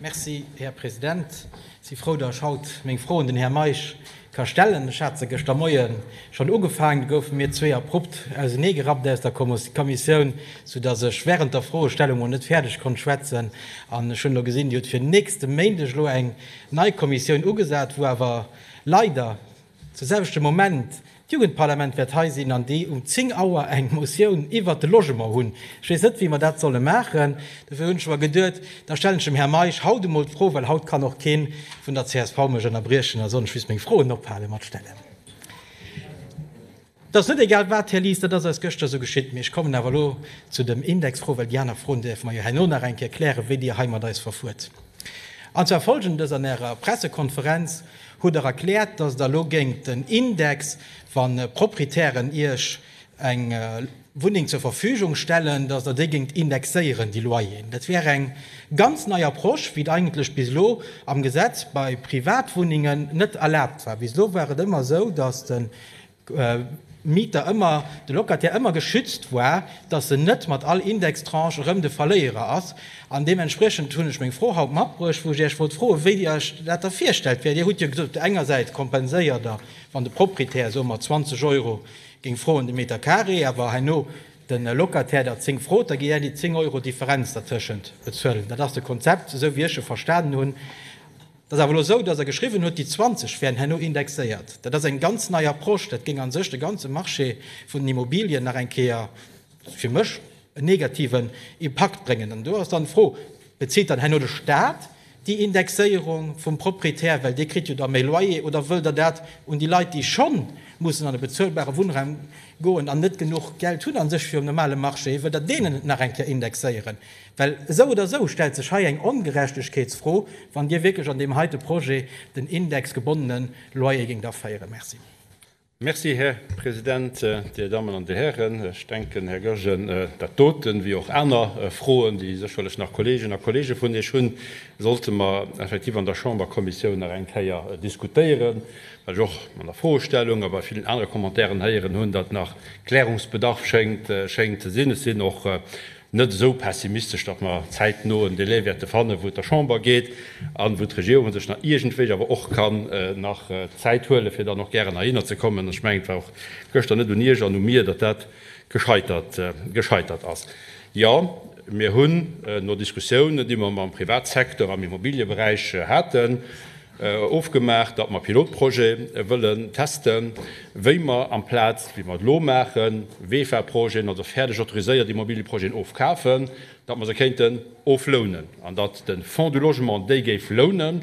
Merci, Här President. Ech si frou, datt ech haut meng Fro un den Här Meisch ka stellen. Ech hat se gëschter Moie schonn ugefaangen, du goufe mir zwee abrupt ausenee gerappt aus der Kommissioun, soudatt ech während der Froestellung mol net fäerdeg konnt schwätzen. An ech hunn elo gesinn, Dir hutt fir nächste Méindeg elo eng nei Kommissioun ugesat, wou awer leider, Zur selwechte Moment, d'Jugendparlament wäert hei sinn an déi um 10 Auer eng Motioun iwwert de Logement hunn. Ech weess net, wéi mer dat solle maachen. Dofir hunn ech awer geduet, da stellen ech dem Här Meisch haut emol d'Fro, well haut kann och kee vun der csv mech ënnerbriechen, da soll ech just meng Froen ophale mat stellen. Et ass net egal wat, Här Lies, dat ass eis gëschter esou geschitt. Mee ech kommen awer elo zu dem Indexfro, well déi aner Froen däerfe mer jo herno nach eng Kéier klären, wéi Dir hei mat eis verfuert. An zwar Folgendes, An Ärer Pressekonferenz hutt Der erkläert, dass Der elo géingt den Index, wa Proprietären Iech eng Wunneng zur Verfügung stellen, dass Der déi géingt indexéieren, déi Loyeren. Dat wär eng ganz nei Approche, wéi et eigentlech bis elo am Gesetz bei Privatwunnengen net erlaabt war. Bis elo war et ëmmer esou, dass de Mieter ëmmer, de Locataire ëmmer geschützt war, dass en net mat all Indextranche erëm de Verléierer ass. An deementspriechend hunn ech meng Fro haut matbruecht, wou ech Iech wollt froen, wéi Dir Iech dat da virstellt. Well Dir hutt jo gesot, op der enger Säit kompenséiert Der, wann de Proprietär, soe mer 20 Euro, géing froen de Meter carré, awer herno de Locataire der 10 frot, da géi Der déi 10 Euro Differenz dertëschent bezuelen. Dat ass de Konzept, esou wéi ech e verstanen hunn. Et ass awer elo esou, dass e geschriwwen huet, déi 20 wären herno indexéiert. Dat ass eng ganz nei Approche. Dat géing a sech de ganze Marché vun den Immobilien nach eng Kéier, fir mech, en negativen Impakt bréngen. An do ass dann d'Fro, Bezilt dann herno de Stat déi Indexéierung vum Proprietär, well dee kritt jo da méi Loyer, oder wëllt Der dat un déi Leit, déi scho mussen an e bezuelbare Wunnraum goen an net genuch Geld hunn a sech fir um normale Marché, wëllt Der deenen et nach eng Kéier indexéieren? Well esou oder esou stellt sech hei eng Ongerechtegkeetsfro, wann Dir wierklech an deem heite Projet den indexgebonnene Loyer géingt aféieren. Merci. Merci, Här President. Dir Dammen an Dir Hären, ech denken, Här Goergen, dat doten, wéi och aner Froen, déi sécherlech nach Kolleeginnen a Kolleege vun Iech hunn, sollte mer effektiv an der Chamberkommissioun nach eng Kéier diskutéieren, well ech och an der Froestellung a bei villen anere Commentairen héieren hunn, datt nach Klärungsbedarf schéngt ze sinn. Ech sinn och net esou pessimistesch, datt mer zäitno en Delai wäerte fannen, wou et der Chamber geet an wou d'Regierung sech nach iergendwéi awer och kann nach Zäit huelen, fir dann och gären heihinner ze kommen. Ech mengen, et war och gëschter net un Iech an u mir, datt dat gescheitert ass. Jo, mir hunn no Diskussiounen, déi mer mam Privatsecteur am Immobilieberäich haten, Ofgemaach, datt mer Pilotprojet wëllen testen, wéi mer amplaz wéi mer et elo maachen, VEFA-Projeten, also fäerdeg autoriséiert Immobiliëprojeten ofkafen, datt mer se kéinten oflounen an datt de Fonds du Logement déi géif lounen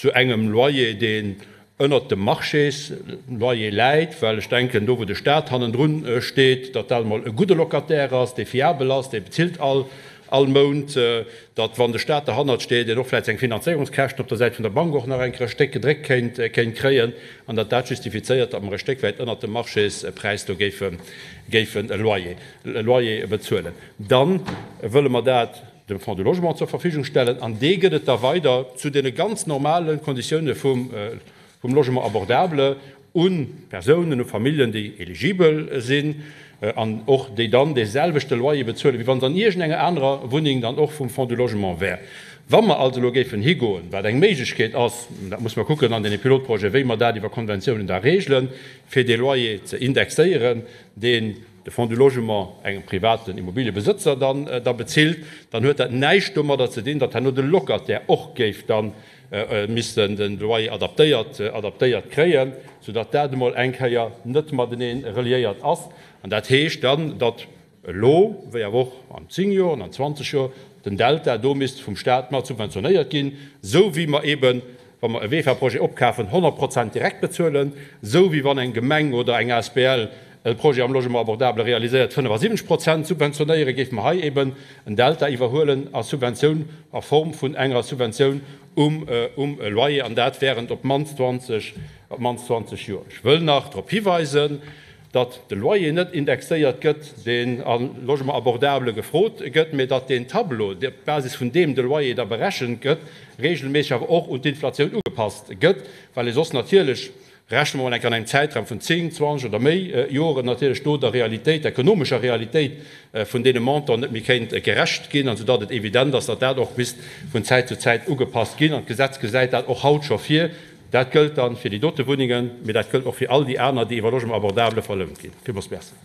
zu engem Loyer, deen ënnert dem Marchés-Loyer läit, well ech denken, do wou de Stat hannendru steet, datt dat emol e gudde Locataire ass, dee fiabel ass, dee bezilt all Mount. datt wann de Staat derhannert steet, een och vläicht seng Finanzéierungskäschten op der Säit vun der Bank och nach eng Kéier e Stéck gedréckt kéint kéint kréien an datt dat justifizéiert, datt mer e Stéck wäit ënnert dem Marchéspräis do géife géifen e Loyer e Loyer bezuelen. Da wëlle mer dat dem Fonds du Logement zur Verfügung stellen an dee gëtt et da weider zu deene ganz normale Konditioune vum vum Logement abordable, u Persounen, u Familljen, déi eligibel sinn an och déi dann dee selwechte Loyer bezuelen, wéi wa se an iergendenger anerer Wunneng dann och vum Fonds du Logement wären. Wa mer also elo géifen higoen, wat eng Méiglechkeet ass, dat muss mer kucken an deene Pilotprojeten, wéi mer dat iwwer Konventiounen da regelen, fir dee Loyer ze indexéieren, deen de Fonds du Logement engem privaten Immobiliëbesëtzer dann da bezilt, dann huet dat näischt domadder ze dinn, datt herno de Locataire och géif dann, missten den Loyer adaptéiert kréien, sou datt dat emol eng Kéier net matenee reliéiert ass. An dat heescht dann, datt elo, wéi awer och an 10 Joer an an 20 Joer, den Delta do misst vum Staat mat subventionéiert ginn, esou wéi mer eben, wa mer e WEFA-Projet opkafen, 100 Prozent direkt bezuelen, esou wéi wann eng Gemeng oder eng asbl De Projet am Logement abordable realiséiert 75 Prozent. Subventionéiere géife mer hei eeben en Delta iwwerhuelen a Subventioun a Form vun enger Subventioun um Loyer, an dat während op d'mannst 20 Joer. Ech wëll nach drop hiweisen, datt de Loyer net indexéiert gëtt, deen am Logement abordable gefrot gëtt, mä datt deen Tableau, op Basis vun deem de Loyer da berechent gëtt, reegelméisseg awer och un d'Inflatioun ugepasst gëtt, well ee soss natierlech Rechne mer mol enk an engem Zäitraum vun 10, 20 oder méi Joren natierlech do der Realitéit, der ekonomescher Realitéit vun deene Montanten net méi kéint gerecht ginn, an soudatt et evident ass, datt dat och misst vun Zäit zu Zäit ugepasst ginn. An d'Gesetz gesäit dat och haut scho vir. Dat gëllt dann fir déi dote Wunnengen, mee dat gëllt och fir all déi aner, déi iwwer Logement abordable verlount ginn. Villmools Merci.